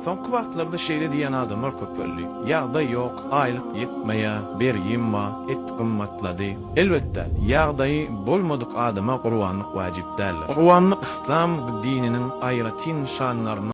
Soňky wagtlarda şeýle diýýän adamlar köpeldi, Ýagdaý ýok, aýlyk ýetmeýär, bergim bar, et gymmatlady. Elbetde, ýagdaýy bolmadyk adama gurbanlyk wajyp däldir. Gurbanlyk yslam dininiň aýratyn nyşanlarynyň.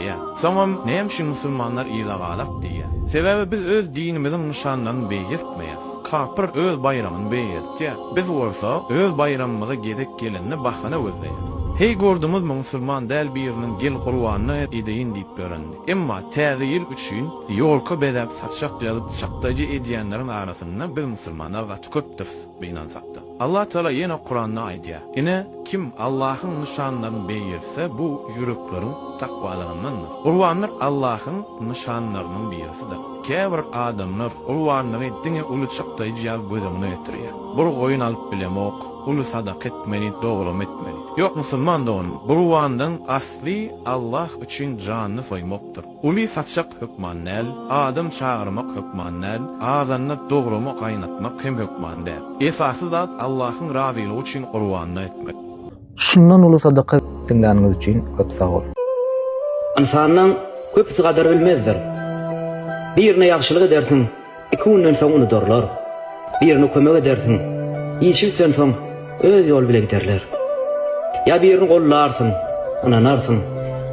diýýär. Soňam näme üçin musulmanlar yzagalak diýýär? Sebäbi biz öz dinimiziň nyşanlaryny beýgeltmeýäs. Kapyr öz baýramyny beýgeltýär. Biz bolsa öz baýramymyza gezek gelende bahana gözleýäs. Heý gördüňizmi musulman däl biriniň gel gurbanyna edeýin diýip ýörenini. Emma täze ýyl üçin ýolka bezäp saçak ýazyp çakdaýja edýänleriň arasynda biz musulmanlar gaty köpdüris gynansakda. Allah Tagala ýene Kuranda aýdýar, Ine, kim Allahyň nyşanlaryny beýgelse, bu ýürekleriň takwalygyndandyr. Gurbanlyk Allahyň nyşanlarynyň birisidir. Käbir adamlar gurbanlygy diňe uly çykdaýjy ýaly göz öňüne getirýär. Bir goýun alyp bilemok, uly sadaka etmeli, dogramy etmeli. Ýok, musulman doganym, gurbanlygyň asly Allah üçin janyny soýmakdyr. Uly saçak hökman däl, adam çagyrmak hökman däl, azanda dogramy gaýnatmak hem hökman däl. Esasy zat Allahyň razylygy üçin gurbanlyk etmek. Şundan uly sadaka. Diňläniňiz üçin köp sag boluň. Ynsanyň köpüsi gadyr bilmezdir. Birine ýagşylyk edersiň. Iki günden soň unudarlar. Birine kömek edersiň, işi bitensoň öz ýoly bile giderler. Ýa birini gollarsyň, ynanarsyň,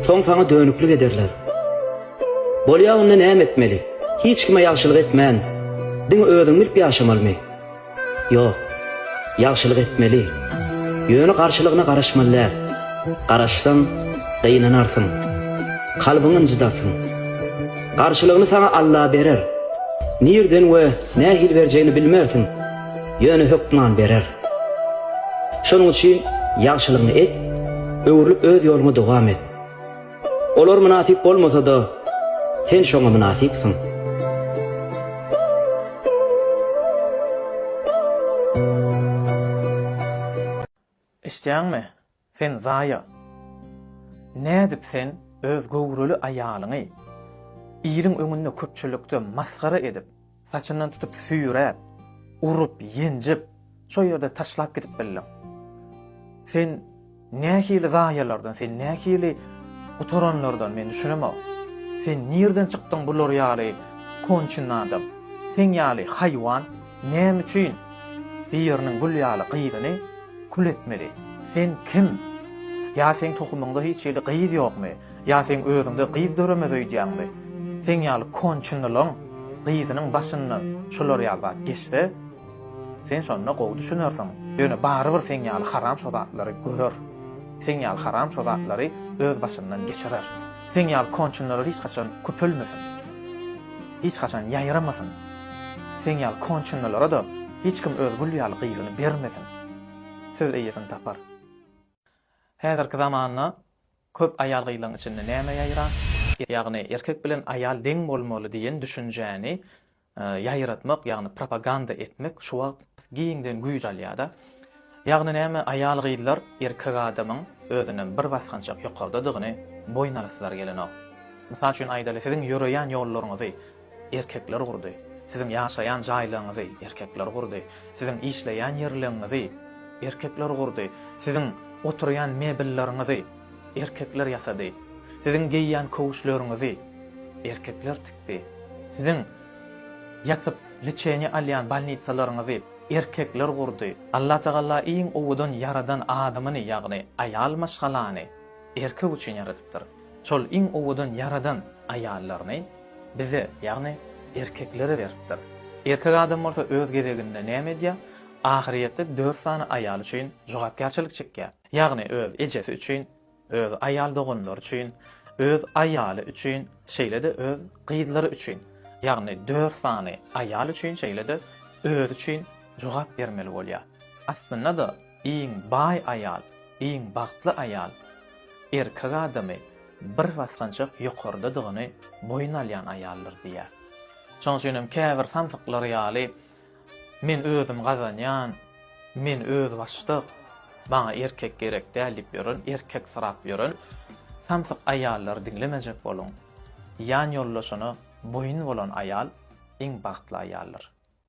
soň saňa dönüklik ederler. Bolýa onda näme etmeli? Hiç kime ýagşylyk etmän, diňe özüňi bilip ýaşamalymy? Ýok, ýagşylyk etmeli. Ýöne garşylygyna garaşmaly däl. Garaşsaň, gynanarsyň. Kalbyňy ynjydarsyň. Garşylygyny saňa Alla berer. Nirden we nähili berjegini bilmersiň, ýöne hökman berer. Şonuň üçin ýagşylygyňy et, öwrülip öz ýoluňa dowam et. Olar mynasyp bolmasa-da, sen şoňa mynasypsyň. Eşitýäňmi, sen zaýa! Nädip sen öz göwreli aýalyňy iliň öňünde köpçülikde masgara edip, Saçyndan tutup süýräp, urup, ýenjip, şo ýerde taşlap gidip bildiň. Sen nähili zaýalardan, sen nähili gutaranlardan men düşünemok. Sen nirden çykdyň bular ýaly konçyn adam? Sen ýaly haýwan näme üçin biriniň gül ýaly gyzyny kül etmeli? Sen kim? Ýa sen tohumyňda hiç hili gyz ýokmy? Ýa seň özüňde gyz döremez öýdýäňmi? Seň ýaly konçenalaň gyzynyň başyndan şular ýaly zat geçse, sen şonda gowy düşünersiň. Ýöne barybir seň ýaly haram şo zatlary görer. Seň ýaly haram şo zatlary öz başyndan geçirer. Seň ýaly konçenalar hiç haçan köpelmesin. Hiç haçan ýaýramasyn. Seň ýaly konçenalara-da hiç kim öz gül ýaly gyzyny bermesin. Söz eýesini tapar. Häzirki zamanda Köp aýal-gyzlaň içinde näme ýaýran? Ýagny erkek bilen aýal deň bolmaly diýen düşünjäni ýaýratmak, ýagny propaganda etmek şu wagt giňden güýç alýar-da. Ýagny näme, aýal-gyzlar erkek adamyň özünden bir basgançak ýokardadygyny boýun alasylary gelenok. Mysal üçin aýdaly, siziň ýöreýän ýollaryňyzy, Erkekler gurdy. Siziň ýaşaýan jaýlaryňyzy erkekler gurdy. Siziň işleýän ýerleňňizi erkekler gurdy. Siziň oturýan mebelleriňizi erkekler ýasady. Siziň geýýän köwüşleriňizi erkekler tikdi. Siziň ýatyp liçeniýa alýan bolnitsalaryňyzy erkekler gurdy. Allatagala iň owadan ýaradan adamyny, ýagny aýal maşgalany erkek üçin ýaradypdyr. Şol iň owadan ýaradan aýallaryny. Bize, ýagny erkeklere beripdir. Erkek adam bolsa öz gezeginde näme edýär? Ahyryýetde dört sany aýaly üçin jogapkärçilik çekýär. Ýagny öz ejesi üçin, öz aýal doganlary üçin, öz aýaly üçin, şeýle-de öz gyzlary üçin. Ýagny dört sany aýal üçin şeýle-de özi üçin jogap bermeli bolýar. Aslynda-da iň baý aýal, iň bagtly aýal erkek adamy, bir basgançak ýokardadygyny boýun alýan aýaldyr diýýär. Şonuň üçin hem käbir samsyklar ýaly men özüm gazanýan, men özbaşdak, maňa erkek gerek däl diýip ýören, erkek syrap ýören samsyk aýallary diňlemejek boluň. Ýan ýoldaşyna boýun bolan aýal iň bagtly aýaldyr.